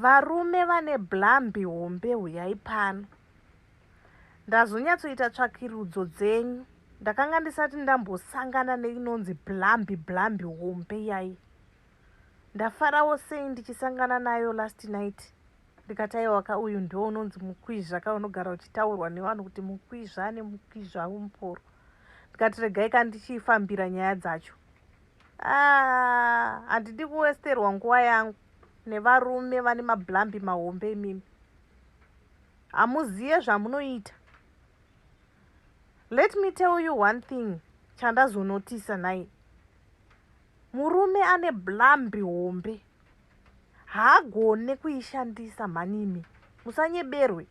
Varume vane blambi hombe huyai pano. Ndazonyatsoita tsvakirudzo dzenyu. Ndakanga ndisati ndambosangana neinonzi blambi blambi hombe iyai. Ndafarawo sei ndichisangana nayo last night. Ndikataiwa ka uyu ndiwo unonzi mukwizva ka unogara uchitaurwa nevanhu kuti mukwizva ane mukwizva umporo. Ndikati regai ka ndichifambira nyaya dzacho. Aah handidi kuwesterwa nguva yangu nevarume vane mablambi mahombe imimi. Hamuziye zvamunoita. Let me tell you one thing chandazonotisa nhai. Murume ane blambi hombe haagone kuishandisa mhanimi. Musanyeberwe.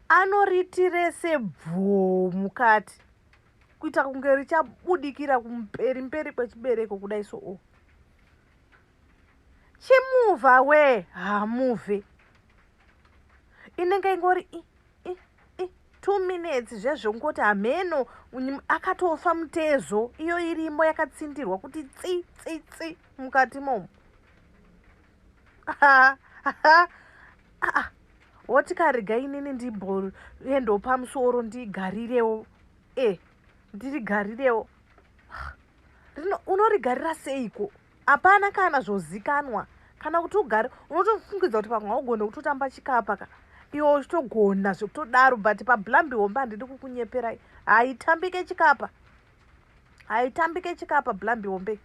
Anoritirese bvoo mukati. kuita kunge richabudikira kumberi mberi kwechibereko kudai so o chimuva we hamuve inenge ingori two minutes zvezvo ngoti hameno akatofa mutezo iyo irimo yakatsindirwa kuti tsi tsi tsi mukati momo woti karega inini ndimboendawo pamusoro ndigarirewo e eh, ndirigarirewo rino unorigarira seiko hapana kana zvozikanwa kana kuti ugare unotofungidza kuti pamwe haugone kutotamba chikapa ka iwe uchitogona zvekutodaro but pablambi hombe handidi kukunyeperai haitambike chikapa haitambike chikapa blambi hombe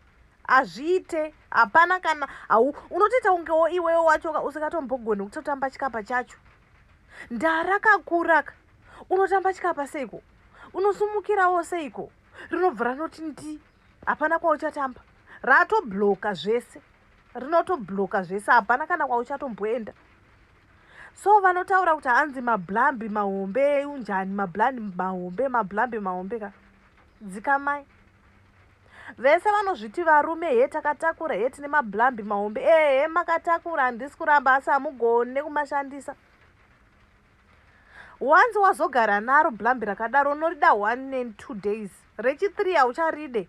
hazviite hapana kana hau unotoita kungewo iwewo wachoka usingatombogoni kutotamba chikapa chacho ndarakakuraka unotamba chikapa seiko unosumukirawo seiko rinobva ranoti ndi hapana kwauchatamba ratobloka zvese rinotobloka zvese hapana kana kwauchatomboenda so vanotaura kuti hanzi mablambi mahombe unjani mablambi mahombe mablambi mahombe ka dzikamai Vese vanozviti varume hee takatakura hee tine mablambi mahombe ehe makatakura handisi kuramba asi hamugone kumashandisa once wazogara naro blambi rakadaro unorida one and two days rechithree haucharide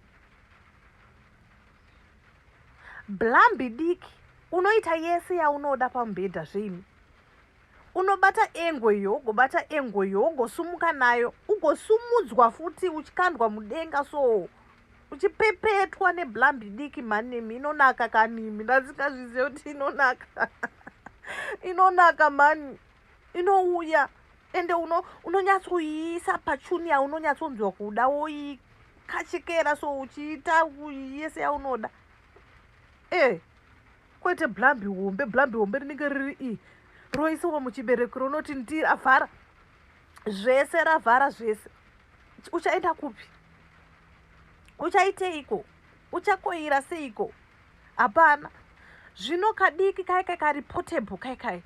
blambi diki unoita yese yaunoda pamubhedha zveimi Unobata engo iyo ugobata engo iyo ugosumuka nayo ugosumudzwa futi uchikandwa mudenga so uchipepetwa neblambi diki mhani nemi inonaka kanimi ndasingazvizive kuti inonaka inonaka mhani inouya ende unonyatsoiisa uno pachuni yaunonyatsonzwa kuda woikachekera so uchiita yese yaunoda e eh. kwete blambi hombe blambi hombe rinenge riri i roisiwa muchibereko ronoti ndi ravhara zvese ravhara zvese uchaenda kupi uchaiteiko uchakoira seiko hapana zvino kadiki kai kai kari portable kai kai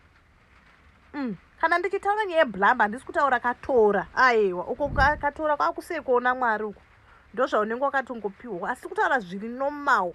mm. kana ndichitaura nyaya yeblamba handisi kutaura katora aiwa uko katora kwakusekoona mwari uko ndozvaunenge wakatongopiwa asi kutaura zviri nomawo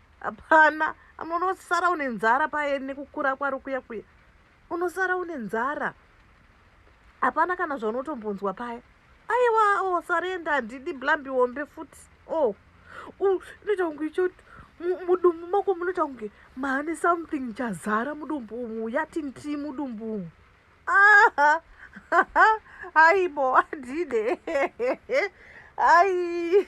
hapana amwe unosara une nzara paye nekukura kwari kuya kuya unosara une nzara hapana kana zvaunotombonzwa paya aiwa o oh, sarenda handidi blambi wombe futi o oh. unoita kunge ichoti mudumbu mako munoita kunge maane something chazara mudumbu umu yati ndii mudumbu umu aibo adide ai